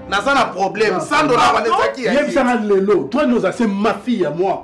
naza na problème sandona wana ezaki yebisanga lelo toi nous assez ma fille ya moi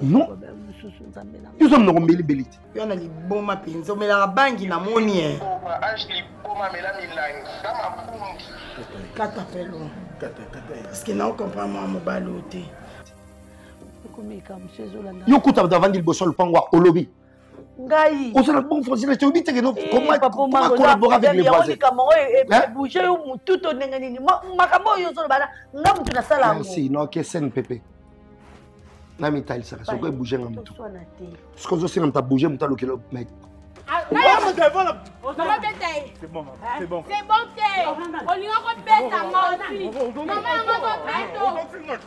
non yo oza monoko mbelibeli te yo na liboma mpenza omelaka bangi na moni e kata pelo parceke nao comprendre mwa mobali oyo te yo kuta bato avandi liboso ya lopango olobi ngai oza na bon français na toyebi teke collaborer avec les voisinikambo oyo ebouge yo motu to ndenge nini makambo oyo ozoloba na nga motu nasala yangosi no kesene pepe namitalisaka soki ebouge nga motu soki ozosenga moto abouge moto alukela mec C'est bon, c'est bon. C'est bon, c'est bon. On lui a repète à moi aussi. Maman, on va repète.